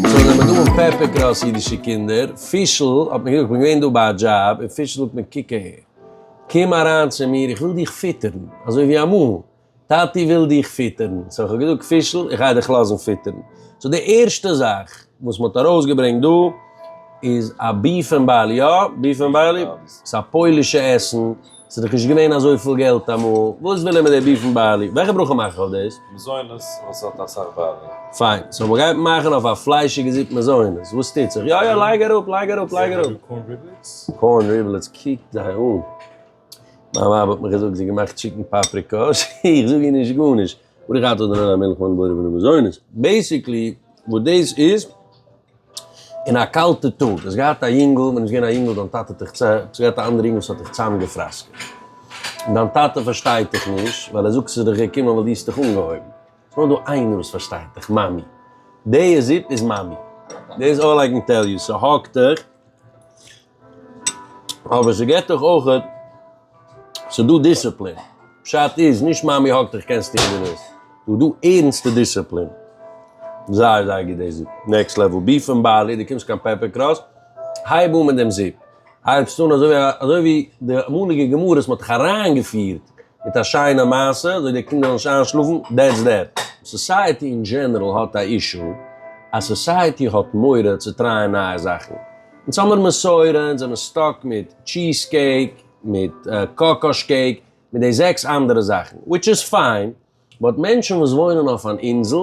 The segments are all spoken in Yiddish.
זאל נעמען דא אן פעפער קראס אידישע קינדער, פישל האט מיר געזאגט, איך בין געווען דא ביי א דזשאב, און פישל זאגט מיר קוק אהער, קום אריין צו מיר, איך וויל דיך פיטערן, אזוי ווי אמאל. טאטי וויל דיך פיטערן. סאו כ'האב געזאגט, פישל, איך גיי דיך לאזן פיטערן. סאו די ערשטע זאך וואס מ'האט ארויסגעברענגט דא איז א ביף ענד בעלי, יא? ביף ענד בעלי? ס'איז א פוילישע עסן, ס'איז דאך נישט געווען אזויפיל געלט אמאל, וואס וויל ער מיט די ביף ענד בעלי? וועלכע ברכה מאך איך אויף דאס? מזונות וואס האט אסאך בעלי. פיין, סאו מ'גייט מאכן אויף א פליישיגע זופ מזונות, וואס טוט זיך? יא יא לייג אראפ לייג אראפ לייג אראפ. קארן ריבלעטס? קארן ריבלעטס קוקט זיי אן. מיין ווייב האט מיך געזאגט זי האט געמאכט טשיקן פאפריקא, איך זאג איר נישט גארנישט, ברוך אתה אדוני עולם מלך העולם בורא ועולם מזונות, בעיסיקלי וואס דאס איז, אין א קאלטע טאג, האסט געהאט א יונגל, ווען איז געווען א יונגל, דיין טאטע האט דיך, האסט געהאט א אנדערע יונגל וואס האט דיך צוזאמגעפראסקעט, און דיין טאטע פארשטייט דיך נישט, ווייל ער זאגט ס'איז דיך געקומען ווייל דו האסט דיך אנגעהויבן, ס'איז נאר דא איינער וואס פארשטייט דיך, מאמי, דעיע זופ איז מאמי, דעיס אלל איי קען טעל יו, ס'האקט דיך. אבער ס'געט דיך אויך, ס'דא דיסציפלין, פשט איז נישט מאמי האגט דיך קענסט טון וואס דו ווילסט, ס'דא ערנסטע דיסציפלין, זייער זייער גוט די זיפ, נעקסט לעוועל, ביפ און בארלי, דו קומסט קיין פעפער קראס, הייב אן מיט דעם זיפ, הייבסט אן אזוי ווי אזוי ווי די אמאליגע גמרות מ'האט דיך אריינגעפירט מיט א שיינע מעשה, אזוי די קינדער זאלן נישט איינשלאפן, דעטס דעט. סאסייעטי אין דזשענעראל האט א אישו אז סאסייעטי האט מורא צו טרייען נייע זאכן, אונז האמיר מסורה, אונז זעמיר סטאק מיט טשיז קעיק, מיט קאקאש קעיק, מיט די זעקס אנדערע זאכן, וויטש איז פיין, באט מענטשן וואס וואוינען אויף אן אינזל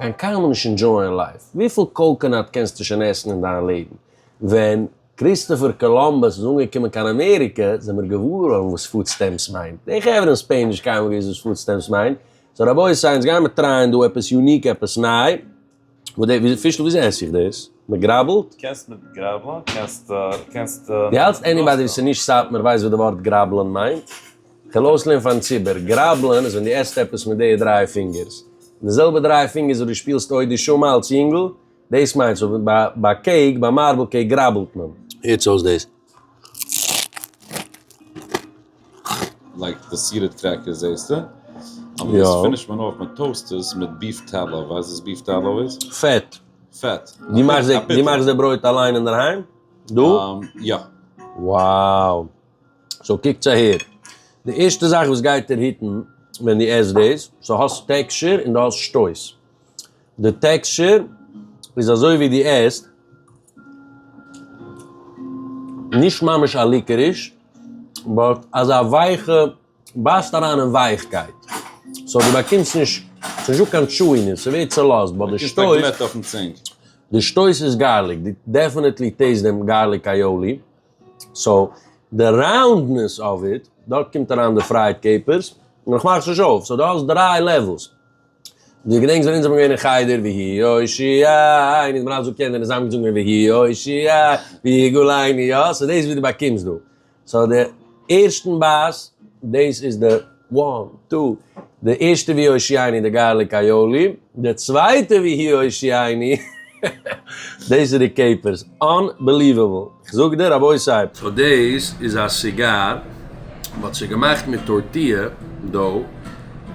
גיין קיינמאל נישט אינדזשויען לייף, וויפיל קאוקענאט קענסטו שוין עסן אין דיין לעבן? ווען קריסטאפער קאלאמבוס איז אנגעקומען קיין אמעריקע זעמיר געוואר געווארן וואס פוד סטעמפס מיינט, די חברה אין ספעין נישט קיינמאל געוואוסט וואס פוד סטעמפס מיינט, סאו רבותי אונז גיימיר טרייען דא עפעס יוניק עפעס ניי. וויאזוי פישל וויאזוי עס איך דאס? מען גראבלט? קענסט מיט גראבלען קענסט קענסט. די האלטסט עניבאדי וואס איז נישט סאטמאר ווייסט וואס די ווארט גראבלען מיינט? כ'על אויסלערנען פארן ציבור, גראבלען איז ווען דו עסט עפעס מיט די דריי פינגערס, די זעלבע דריי פינגערס וואס דו שפילסט אוי דו שומע אלץ יונגל, דאס מיינסטו, ביי קעיק ביי מארבל קעיק גראבלט מען. הערטס אויס דאס. לייק די סירעט קרעקערס זעסטע, אבער יא, דאס פינישט מען אויף מען טאוסט עס מיט ביף טאלאו, ווייסט וואס ביף טאלאו איז? פעט. פעט. די מאכסט די, די מאכסט די ברויט אליין אינדערהיים? דו? יא. wow סאו קוקטס אהער, די ערשטע זאך וואס גייט דיר היטן ווען דו עסט דאס, סאו האסט טעקשור און דו האסט שטויס. די טעקשור איז אזוי ווי די עסט, נישט ממש א ליקעריש, באט אזא ווייכע, בייסט אריין אין ווייכקייט, סאו דו באקומסט נישט, ס'איז נישטא קיין טשואינעס, ס'ווערט צעלאזט, באט די שטויס, באקומסט א גלעט אויפן צינג. די שטויס איז גארליק, דו דעפענעטלי טעיסט דעם גארליק אייאלי, סאו די ראונדנעס אוו איט, דארט קומט אריין די פרייד קעפערס, און איך מאך עס נישט אויף, סאו דו האסט דריי לעוועלס. דו געדענקסט ווען אונז זענען געווען אין חדר ויהי הושיעה, און אונז האבן אלע זאגט קענער און זיי האבן געזונגען ויהי הושיעה ויגאלני, יא? סאו דאס איז וואס דו באקומסט דא. סאו די ערשטן בית, דאס איז די וואן, טו, די ערשטע ויהי הושיעני די גארליק אייאלי, די צווייטע ויהי הושיעני, דעיס איז די קעיפערס. אנבעליוועבל. כ'זאג דיר רבותי ס'הייבט. סאו דעיס איז א סיגאר וואטס איז געמאכט מיט טורטיא דאו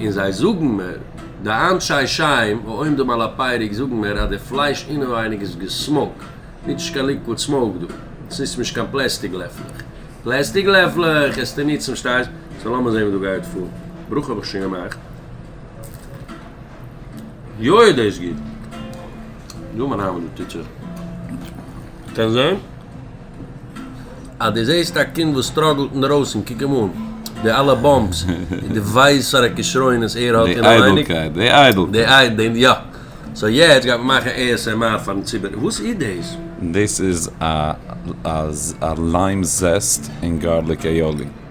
און זיי זאגן מיר די אנשי שם העומדים על הפייריק זאגן מיר אז די פלייש אינעווייניג איז געסמאוק ניטש קיין ליקוואד סמאוק דא ס'ניצט נישט קיין פלעסטיג לעפלעך פלעסטיג לעפלעך עסטו ניצן פשטייסט סאו לאמיר זעהן ווי דא גייט פאר ברוך האב איך שוין געמאכט. יוי איז דאס גוט! דא מיין היימישע טיטשער קען זען אז דו זעסט א קינד וואס סטראגלט אינדערויסן קוק אים אן די אלע באמפס דו ווייסט וואסארא כשרונות ער האט אינעווייניג די איידלקייט די יא סאו יעצט גייט מען מאכן עי עס עם אר פארן ציבור וואס איז דאס? דאס איז א ליים זעסט און גארליק אייאלי.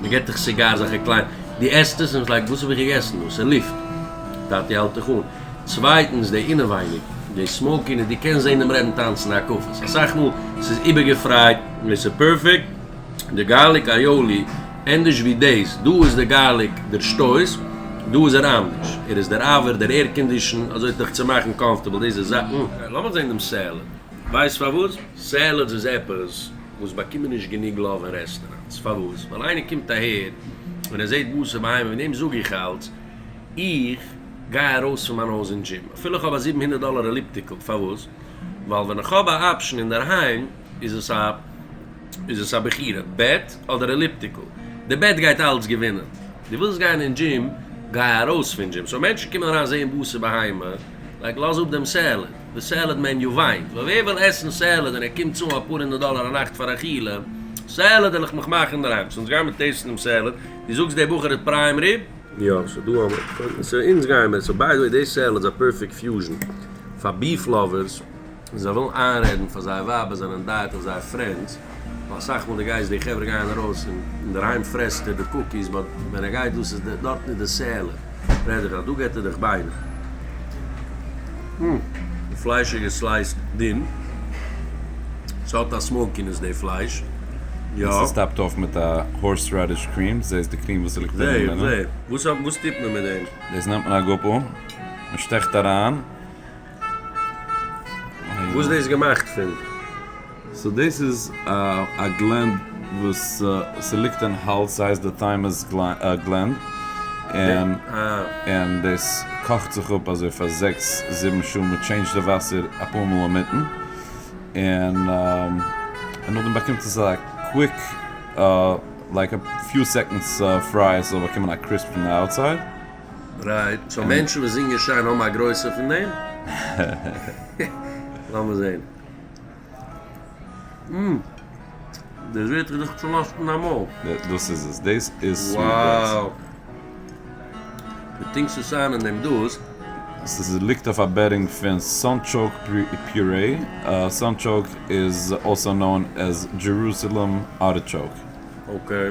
מען געט דיך סיגאר אזעלכע קליינע, דו עסט עס און ביסט לייק וואס האב איך געגעסן דא? ס'איז לופט. טאטי האלט דיך אן. צווייטנס די אינעווייניג, די סמאוקינעס, דו קענסט זען דעם רעדן טאנצן הקפות, אסאך מאל ס'איז איבערגעפרייט, און ס'איז פערפעקט, די גארליק אייאלי, ענדערש ווי דאס, דא איז די גארליק דער שטויס, דא איז ער אנדערש, ער איז דער אווער, דער עירקאנדישן, אזוי ט'דיך צו מאכן קאמפארטעבל, דאס איז זאכן. לאמיר זען דעם סעלעד. ווייסט פארוואס? סעלעדס איז עפעס. וואס באקומען נישט גענוג לאוו אין רעסטעראנטס, פארוואס? ווייל איינער קומט אהער און ער זעהט בשר בהמה, וועגן דעם זאג איך אלץ, איך גיי ארויס פון מיין הויז אין דזשים אפילו איך האב א זיבן הונדערט דאלער עליפטיקל, פארוואס? ווייל ווען איך האב א אפשן אינדערהיים איז עס א איז עס א בחירה, בעט אדער עליפטיקל, די בעט גייט אלץ געווינען, דו ווילסט גיין אין דזשים, גיי ארויס פון דזשים, סאו מענטשן קומען אריין זעהן בשר בהמה, לייג לאז אפ דעם סעלעד. די סעלעד מעניו וויינט, ווייל ווער וויל עסן סעלעד און ער קומט צאלן אפאר הונדערט דאלער א נאכט פאר אכילה? סעלעד העל איך מיך מאכן אינדערהיים, ס'אונז גיימער טעיסטן דעם סעלעד, דו זאגסט דער בחור איז פריים ריב? יא, ס'דא א מ. סאו אונז גיימער, סאו ביי די וועי דעי סעלעד איז א פערפעקט פיוזשן פאר ביף לאווערס, און זיי ווילן איינרעדן פאר זייער ווייב אז זיי זענען דייעט אויף זייער פרענדס. ווייל אסאך מאל די גייסט די חברה גייען ארויס און אינדערהיים פרעסט ער די קוקיס באט ווען ער גייט דאס איז די דארטן איז די סעלער רעד איך אז דא געט ער דיך ביינער די פלייש איז געסלייסט דין ס'האט א סמאוקינעס די פלייש יא. און ס'טאפט אויף מיט א הארס רעדיש קריעם זעה איז די קריעם וואס ליגט אינעווינען. זעה זעה וואס טוט מען מיט דעם? דאס נעמט מען א גאפל, מ'שטעכט אריין. וואס דאס געמאכט פון? סאו דאס איז א גלענד וואס ס'ליגט אין האלז ס'הייסט די טיימוס גלענד און און דאס קאכט זיך אפ אזוי פאר זעקס זיבן שעה מ'טשעינדזשט די וואסער אפאר מאל אינמיטן און און נאכדעם באקומט עס א קוויק לייק א פיו סעקאנדס פרייער ס'זאל באקומען א קריספ פון די אוטסייד. רייט, סאו מענטשן וואס זינגען שיין האבן א גרויסע פון דעם? לאמיר זעהן. אום. דאס ווערט איך דאך צולאזט אין א מויל. דאס איז עס, דאס איז סוויט דעיס. וואו. די טינקסט עס איין אין דעם דאס. ס'איז ליגט אויף א בעדינג פון סאנטשאוק פיורעי, סאנטשאוק איז אלסא נאון עז דזשערוסעלעם ארטיטשאוק. אקעי.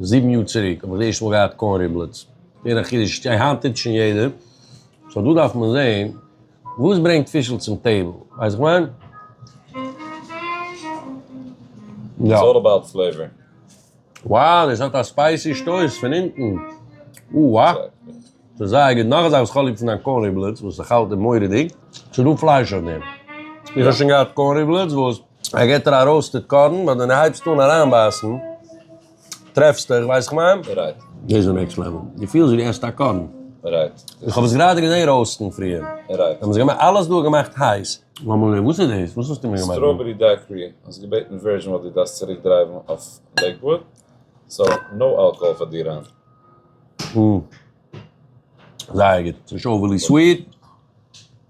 זיבן יאר צוריק האב איך די ערשטע מאל געהאט קארן ריבלעטס. ווער א חידוש איז שוין היינט טוט שוין יעדער. סאו דא דארף מען זעהן וואס ברענגט פישל צום טעיבל. ווייסט וואס איך מיין? איטס אלל אבאוט פלעיווער. Wow עס האט א ספייסי שטויס פון אונטן. אוה וואה. ס'איז זייער גוט. נאך א זאך וואס כ'האב ליב פון דיין קארן ריבלעטס וואס איך האלט איז מורא'דיג. ס'איז דא פלייש אויף דעם. איך האב שוין געהאט קארן ריבלעטס וואס. ער געט דיר א ראוסטעד קארן ווען דו הייבסט אן אריינבייסן טרעפסטו איך ווייס איך מיין? רייט. דאס איז נעקסט לעוועל. דו פילסט ווי דו עסט א קארן. רייט. איך האב עס גראדע געזען ראוסטן פריער. רייט. זיי האבן עס געמאכט אלעס דא געמאכט הייס. מאמעלע וואס איז דאס? וואס האסטו מיר געמאכט דא? סטראבערי דייעקרי, האסט געבעטן ווערזשן וואס דו דארפסט צוריק דרייוון אויף לעיקוואד, סאו נאו אלקאהאל פאר דיר היינט. זייער גוט. ס'איז שוין אווערלי סוויט.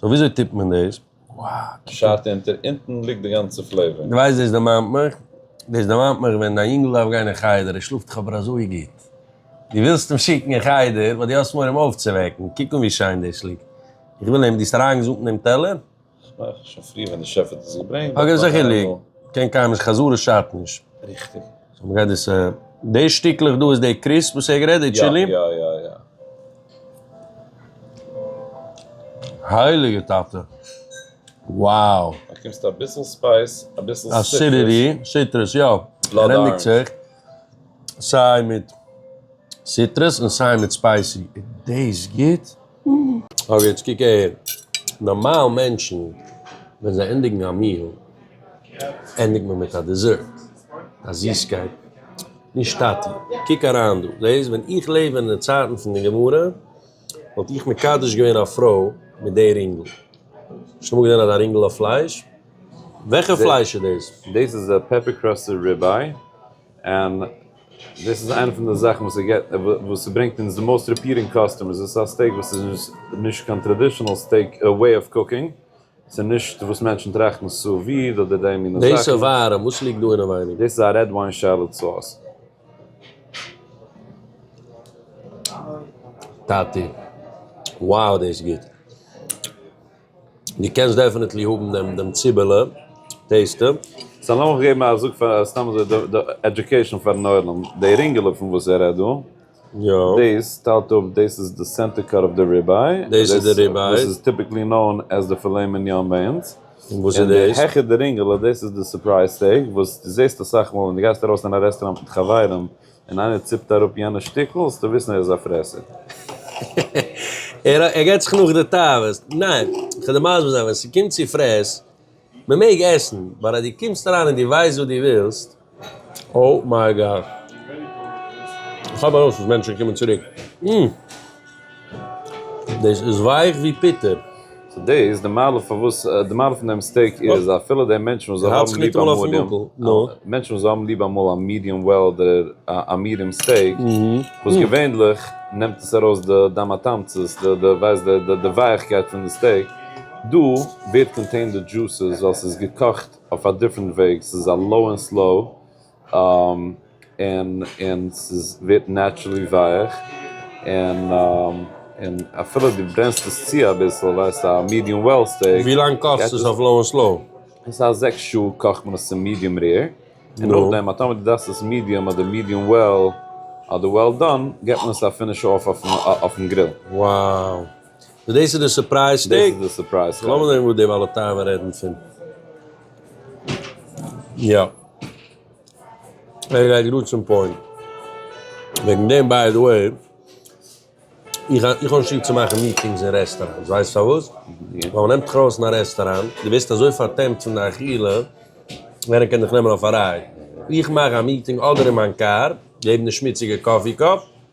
סאו וויאזוי טוט מען דאס? פשט אונטער אונטן ליגט די גאנצע פלעיווער. די ווייסט דאס דערמאנט מיך, דאס דערמאנט מיך ווען דיין יונגל דארף גיין אין חדר, ער שלאפט דאך אבער אזוי גוט, דו ווילסט אים שיקן אין חדר ווייל דו האסט מורא אים אויפצווועקן, קוק אן ווי שיין דאס ליגט, איך וויל אים, דו האסט אריינגעזאמט אין דעם טעלער? כ'מיין שוין פריער ווען די שעף האט עס געברענגט. אגב זיכער ליגט, קען קיין נישט, חזרה שאדט נישט. ריכטיג. סאו מ'גייט דאס, די שטיקלעך דא איז די קריספ וואס ער האט גערעדט, די טשילי? יא יא יא יא. הייליגע טאטע wow. באקומסט אביסל ספייס אביסל אסידיטי סיטרוס יא ער ענדיגט זיך סיי מיט סיטרוס און סיי מיט ספייסי איז דעיס גוט? אבער יעצט קוק אהער נארמאל מענטשן ווען זיי ענדיגן א מיעל ענדיגט מען מיט א דיזערט, א זיסקייט. נישט טאטי, קוק אריין דא, לעז, ווען איך לעב אין די צייטן פון די גמרא, וואלט איך מקדש געווען א פרוי מיט די רינגל. האסט אמאל געזען אזא רינגל אויף פלייש? וועלכע פלייש איז דאס? דאס איז א פעפער קראסטעד ריבעי, און דאס איז איינע פון די זאכן וואס איז געט, וואס איז ברענגט אונז די מאוסט ריפיעטינג קאסטומערס, דאס איז א סטעיק וואס איז נישט קיין טראדישענעל סטעיק וועי אוו קוקינג, ס'איז נישט וואס מענטשן טראכטן סו וויד אדער די מינע זאכן. דאס איז ווארעם, וואס ליגט דא אינעווייניג? דאס איז א רעד וויין שעלאט סאוס. טאטי. wow דאס איז גוט. דו קענסט דעפענעטלי האבן דעם דעם ציבעלע טעיסטע. סא לאמיך געבן א זאג פאר סתם אזוי די עדיוקעישאן פארן עולם, די רינגעלע פון וואס ער רעדט דא. דאס טיילט אפ, דאס איז די סענטער קאר אוו די ריבעי, דאס איז די ריבעי, וואס איז טיפיקלי נאון עז די פילעי מיניאן ביי אונז, און די העכער די רינגעלע דאס איז די סורפרייז סטעיק, וואס דו זעסט אסאך מאל ווען דו גייסט ארויס אין א רעסטוראנט מיט חברים און איינער ציפט אראפ יענע שטיקל זאלסטו וויסן ער איז א פרעסער. ער גייט זיך נאך די תאוות. ניין, איך וויל דיר מסביר זיין, ווען ס'קומט צו פרעס, מ'מעג עסן, באט אז דו קומסט אריין און דו ווייסט וואס דו ווילסט, אוי מיי גאד. כאפ ארויס אז מענטשן קומען צוריק. אום. דאס איז ווייך ווי פיטער. סאו דאס די מעלה פארוואס די מעלה פון דעם סטעיק איז אפילו די מענטשן וואס זיי האבן ליב א מידיעם מענטשן וואס זיי האבן ליב אמאל א מידיעם וועל אדער א מידיעם סטעיק וואס געווענדליך נעמט עס ארויס די דם התמצית די די ווייסט די ווייכקייט פון די סטעיק דא ווערט קאנטעינד די דזשוסעס ווייל ס'איז געקאכט אויף א דיפרענט וועג, ס'איז א לאו און סלאו, און און ס'איז ווערט נעטשרעלי ווייעך, און און אפילו דו ברענסט עס צו אביסל, ווייסט א מידיום וועל סטעיק, און ווי לאנג קאכסט עס אויף לאו און סלאו? ס'איז א זעקס שעה קאכט מען עס צו מידיום רעיר, און נאכדעם א טאמער דו דארפסט עס מידיום אדער מידיום וועל אדער וועל דאן, געט מען עס א פינער שעה אויף אויפן גריל. Wow! און דאס איז די סורפרייז שטיק? לאמיר זען וואס די בעלי תיבה רעדן פון. יא. ער גייט גראד צום פוינט. וועגן דעם ביי די וועי, איך האב נישט ליב צו מאכן מיטינגס אין רעסטאראנטס, ווייסט פארוואס? ווייל מען נעמט דיך ארויס אין א רעסטאראנט, דו ווערסט אזוי פארטעמט פון די אכילה, איינער קען דיך נעמען אויף א רייד. איך מאך א מיטינג אדער אין מיין קאר, געב די שמוציגע קאפי קאפ,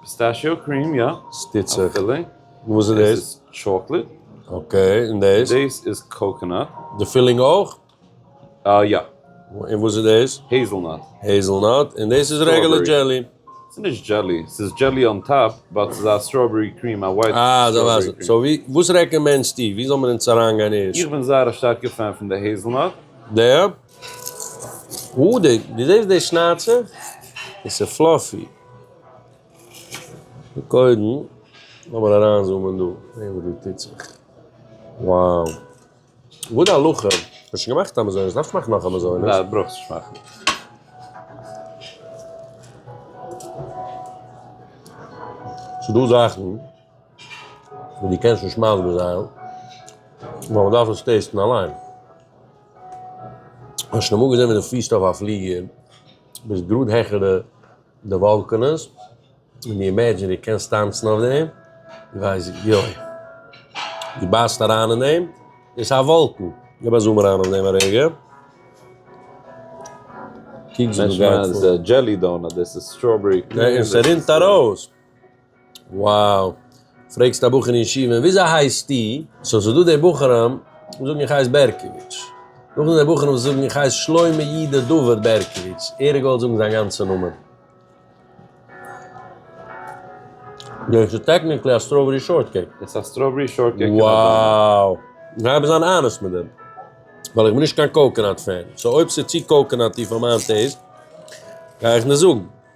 פיסטעשיאו קריעם יא. שטיצעך. אבסעלוטלי. וואס איז דאס? עס איז טשאקלעט. אקעי, און דאס? דאס איז קאקענאט. די פילינג אויך? אה יא. און וואס איז דאס? העזעלנאט. העזעלנאט, און דאס איז רעגולער דזשעלי? ס'איז נישט דזשעלי, ס'איז דזשעלי אן טאפ, באט ס'איז א סטראבערי קריעם, א ווייט סטראבערי קריעם. סאו וואס רעקאמענדסטו? ווי זאל מען אונז אריינגיין ערשט? איך בין זייער א שטארקע פען פון די העזעלנאט. די? אדג, דו זעסט די שנייצע? עס איז פלאפי. קודם לאמיר אריינזומען דא זעהן וואס דא טוט זיך. wow. וואס די הלכה? איך האב שוין געמאכט א מזונות, דארף איך מאכן נאך א מזונות? ניין, ברויכסט נישט מאכן. ס'איז דא זאכן וואס דו קענסט נישט מסביר זיין ווייל מ'דארף עס טעסטן אליין. האסט שוין אמאל געזען ווי דו פירסט אויף א פליגער, ביסט גראד העכער די די וואלקענעס, און דו אימעדזשין דו קענסט טאנצן אויף דעם, דו ווייסט יוי, דו בייסט אריין אין דעם, דאס איז א וואלקן, גיב א זום אריין אויף דעם א רגע, קוק ווי דאס גייט פאר. משמע אז דאס איז א דזשעלי דאנאט, דאס איז סטראבערי קרעם. און ס'רינט ארויס. וואו! פרעגסט א בחור אין ישיבה און וויאזוי הייסטו? סאו ס'איז דא די בחורים וואס זאגן איך הייס בערקאוויטש, נאכדעם די בחורים וואס זאגן איך הייס שלמה יהודה דוד בערקאוויטש, ער האט געוואלט זאגן זיין גאנצע נאמען. דאס איז טעקניקלי א סטראבערי שארט קעיק. עס איז א סטראבערי שארט קעיק אין א דאנאט. וואו! איך גיי אבער זיין אנעסט מיט דעם, ווייל איך בין נישט קיין קאוקענאט פען, סאו אויב ס'איז צו קאוקענאטי פאר מיין טעיסט, גיי איך נישט זאגן.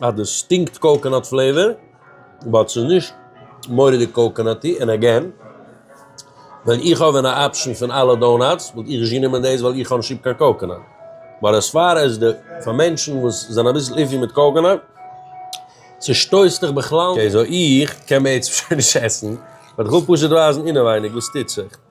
אז דאס שטינקט קאוקענאט פלעיווער, באט ס'איז נישט מורא'דיג קאוקענאטי, און עגעין, ווען איך האב ווען א אפשען פון אלע דאונאטס, וואלט איך נישט גענומען דאס ווייל איך האב נישט ליב קיין קאוקענאט, באט עז פאר עז די, פאר מענטשן וואס זענען אביסל איפי מיט קאוקענאט, ס'שטויסט דיך בכלל נישט. אקעי, סאו איך קען בעצם שוין נישט עסן, באט איך וויל פשוט ווייזן אינעווייניג וואס טוט זיך.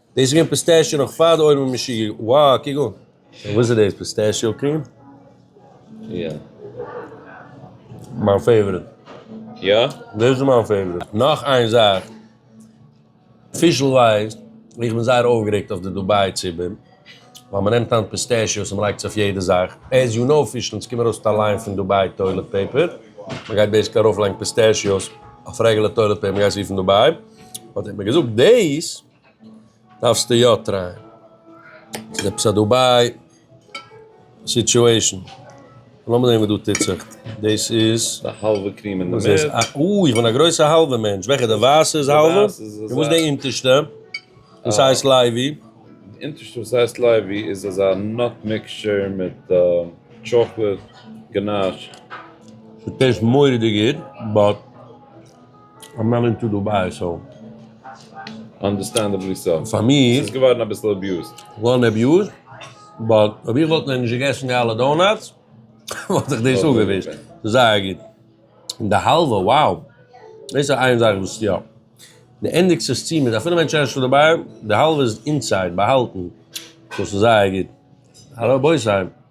דאס איז געווען פיסטעשיו נאך פאר די אויווען מאשין, וואו קוק אן. וואס איז דאס פיסטעשיו קריעם? יא. מיין פעיווערעט. יא? דאס איז מיין פעיווערעט. נאך איין זאך, פישל ווייסט ווי איך בין זייער אויפגערעגט אויף די דובאי ציבור, ווייל מען נעמט היינט פיסטעשיוס און מען לייגט עס אויף יעדע זאך, עז יו נאו פישל, עס קומט ארויס מיט א ליין פון דובאי טוילעט פעיפער, מען גייט בעיסיקלי ארויפלייגן פיסטעשיוס אויף רעגולער טוילעט פעיפער, מען גייט עס רופן דובאי. האט ער מיר געזאגט דעיס דארפסטו יא טרייען, ס'איז עפעס א דובאי סיטועישן, לאמיר זעהן וואס דא טוט זיך, דעיס איז די האלווע קריעם אין די מיט, אוי איך בין א גרויסע האלווע מענטש, וועלכע די ווייסע איז האלווע? און וואס די אינטערשטע וואס הייסט לייבי? די אינטערשטע וואס הייסט לייבי איז אזא נאט מיקשטשער מיט טשאקלעט גענאש. ס'טעיסט מורא'דיג גוט באט. א מען אינטו דו ביי סאו אנדערסטענדעבלי סא פאר מיר איז געווארן אביסל אביוזד געווארן אביוזד באט אויב איך וואלט נאכנישט געגעסן די אלע דאונאטס וואלט זיך דאס אפגעווישט זייער גוט און די האלווע וואו דאס איז איין זאך וואס יא די ענדיגט זיך צו מיט אפילו ווען טשערשט איז דערביי די האלווע איז אינסייד באהאלטן דאס איז זייער גוט הרב בויסהיים.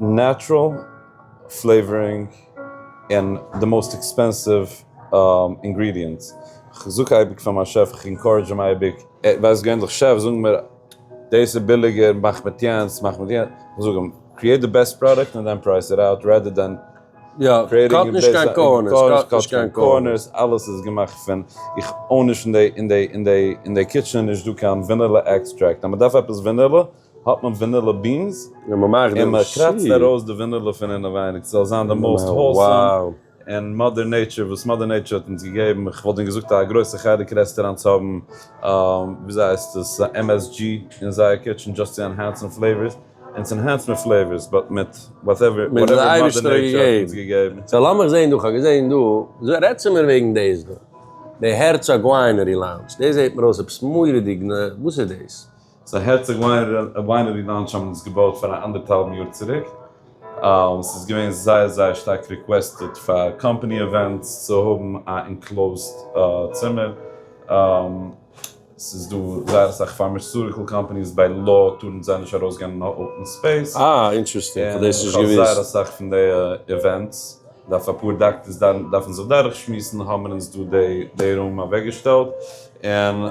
נעטראל פלעיווארינג און די מאוסט עקספענסיוו אינגרידיענטס, כ'זאג אייביג פאר מיין שעף, כ'ענקארעדזש אים אייביג, ער ווייסט געווענדליך, שעף זאג מיר דאס איז ביליגער, מאך מיט יענץ, מאך מיט יענץ, כ'זאג אים, קריעיט די בעסט פראדאקט און דען פרייס איט אוט, רעדער דען קאט נישט קיין קארנערס, אלעס איז געמאכט פון, איך אוין נישט אין די קיטשען איז נישט דא קיין ווענילע עקסטרעקט, אז מ'דארף עפעס ווענילע. האט מען ווענילא בינס און מען קראצט ארויס די ווענילא פון אינעווייניג ס'זאל זיין די מאוסט האולסאם און מאדער נעיטשער וואס מאדער נעיטשער האט אונז געגעבן איך וואלט דען געזאגט א גרויסע חלק רעסטעראנטס האבן וויאזוי הייסט עס א msg אין זייער קיטשען דזשאסט צו ענהענסען פלעיווארס און עס ענהענסט מיט פלעיווארס באט מיט וואטעווער וואטעווער מאדער נעיטשער האט אונז געגעבן. סא לאמיך זעהן דא, כ'האב געזעהן דא, רעד צו מיר וועגן דעיס דא, די הערצאג וויינערי לאונדזש, דעיס זעהט מיר אויס עפעס מורא'דיג, וואס איז דעיס? ס'איז א הערציג וויינערי לאנטש האבן אונז געבויט פאר א אנדערטהאלבן יאר צוריק, ס'איז געווען זייער זייער שטארק ריקוועסטעד פאר קאמפאני אווענטס צו האבן א אינקלאוזד צימער, ס'איז דא זייער אסאך פארמעסוריקעל קאמפאניס ביי לאו טארן זיי נישט ארויס גיין אין א אפען ספעיס, און איך האב זייער אסאך פון די אווענטס, דארף אפאר דאקטערס דארפן זיך דורך שמועסן האבן מיר אונז דא די רום אוועק געשטעלט, און.